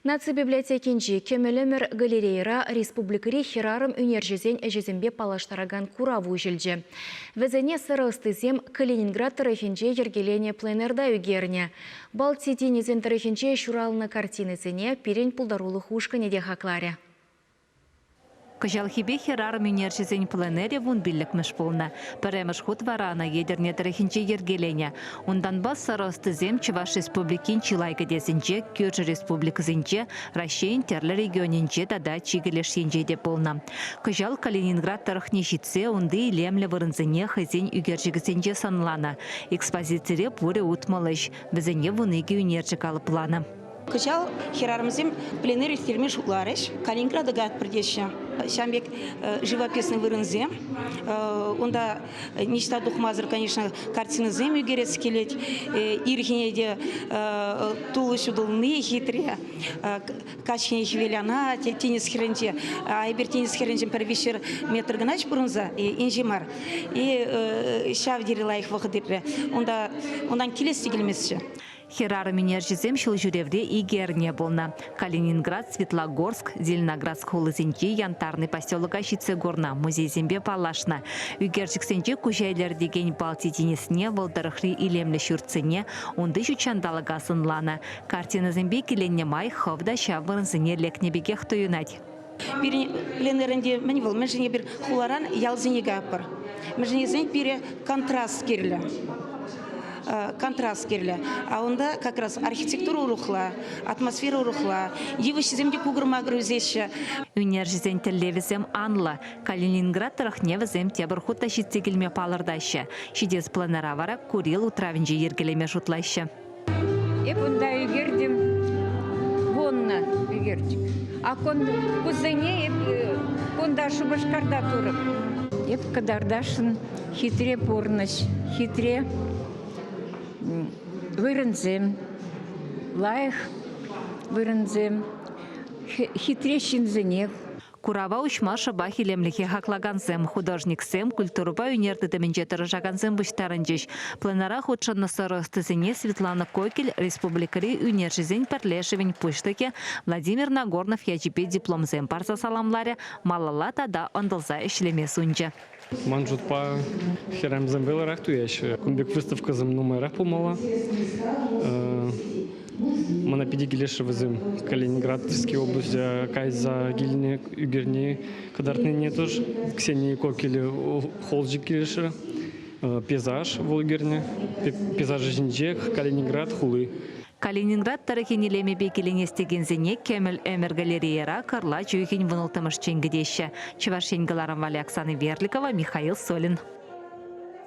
Наци библиотекинчи Кӗмӗл ӗмӗр галерейӑра республикӑри хӗрарӑм ӳнерҫӗсен ӗҫӗсемпе паллаштаракан курав уҫӑлчӗ. Вӗсене сӑрӑ ӑстисем Калининград тӑрӑхӗнче йӗркеленӗ пленэрта ӳкернӗ. Балти тинӗсӗн тӑрӑхӗнче ҫуралнӑ картинӑсене пирӗн пултарулӑх ушкӑнӗ те хакларӗ. Кӑҫалхипе хӗрарӑм ӳнерҫӗсен пленэрӗ вун пиллӗкмӗш пулнӑ. Пӗрремӗш хут вара ӑна Етӗрне тӑрӑхӗнче йӗркеленӗ. Унтанпа сӑрӑ ӑстисем Чӑваш Республикин чылай кӗтесӗнче, кӳршӗ республикӑсенче, Раҫҫейӗн тӗрлӗ регионӗнче тата чикӗ леш енче те пулнӑ. Кӑҫал Калининград тӑрӑхне ҫитсе унти илемлӗ вырӑнсене хӑйсен ӳкерчӗкӗсенче сӑнланӑ. Экспозицире пурӗ утмӑл ӗҫ, вӗсене вун икӗ ӳнерҫӗ калӑпланӑ. Кӑҫал хӗрарӑмсем пленэр ирттерме шутларӗҫ. Калининграда каятпӑр теҫҫӗ. Ҫавӑн пек живописный вырӑнсем. Унта ниҫта тухмасӑр, конечно, картинӑсем ӳкерес килет. Ирхине те тулӑ ҫутӑлни хитре. Каҫхине хӗвелана тинӗс хӗрринче. Эпир тинӗс хӗрринчен пӗр виҫҫӗр метр кӑна пурӑнса, инҫе мар. И ҫав тери лайӑх вӑхӑт иртрӗ. Унта унтан килес те килместчӗ. Хӗрарӑм-ӳнерҫӗсем ҫулҫӳревре икӗ эрне пулнӑ. Калининград, Светлогорск, Зеленоградск хулисенчи Янтарный поселока ҫитсе курнӑ, музейсемпе паллашнӑ. Ӳкерчӗксенче куҫа илӗртекен Балти тинӗсне, вӑл тӑрӑхри илемлӗ ҫуртсене, унти ҫутҫанталӑка сӑнланӑ. Картинӑсемпе киленнӗ май хӑв та ҫав вырӑнсене лекнӗ пекех туйӑнать. Пирӗн пленэрӗнте мӗн вӑл? Мӗншӗн эпир хуларан ялсене каятпӑр? Мӗншӗн тесен пире контраст кирлӗ контраст кирлӗ. А унта как раз архитектура урӑхла, атмосфера урӑхла, йывӑҫҫисем те кукӑр-макӑр ӳсеҫҫӗ. Ӳнерҫӗсен тӗллевӗсем анлӑ. Калининград тӑрӑхне вӗсем тепӗр хут та ҫитсе килме палӑртаҫҫӗ. Ҫитес пленэра вара Курил утравӗнче йӗркелеме шутлаҫҫӗ. Эп унта ӗлкертӗм вуннӑ ӗлкертӗм. А кун, кусене эп э, кунта Шупашкарта турӑм. Эп кӑтартасшӑн хитре пурнӑҫ, хитре вырӑнсем, лайӑх вырӑнсем, хитре ҫынсене Курава уҫма шӑпах илемлӗхе хаклакансем, художниксем, культурӑпа ӳнер тытӑмӗнче тӑрӑшакансем пуҫтарӑнчӗҫ. Пленара хутшӑннӑ сӑрӑ ӑстисене Светлана Кокель республикӑри ӳнерҫӗсен пӗрлешӗвӗн пуҫлӑхӗ Владимир Нагорнов ячӗпе дипломсем парса саламларӗ, малалла тата ӑнтӑлса ӗҫлеме сунчӗ. Ман шутпа, хӗрарӑмсем вӑйлӑрах туяҫҫӗ. Кун пек выставкӑсем нумайрах пулмалла. Мана питӗ килӗшрӗ вӗсем. Калининградские облаҫа кайса килни, ӳкерни, кӑтартнине тоже. Ксении Кокеле холчик килӗшрӗ. Пейзаж вӑл ӳкернӗ. Пейзаж ӗҫӗнчех Калининград хули. Калининград тӑрӑхӗн илемӗпе киленес текенсене Кӗмӗл ӗмӗр галерейӑра Кӑрла чӳхин вун улттӑмӗш чен кӗтеҫҫӗ, Чӑваш Ен кӑларӑм валли Оксана Верликова, Михаил Солин.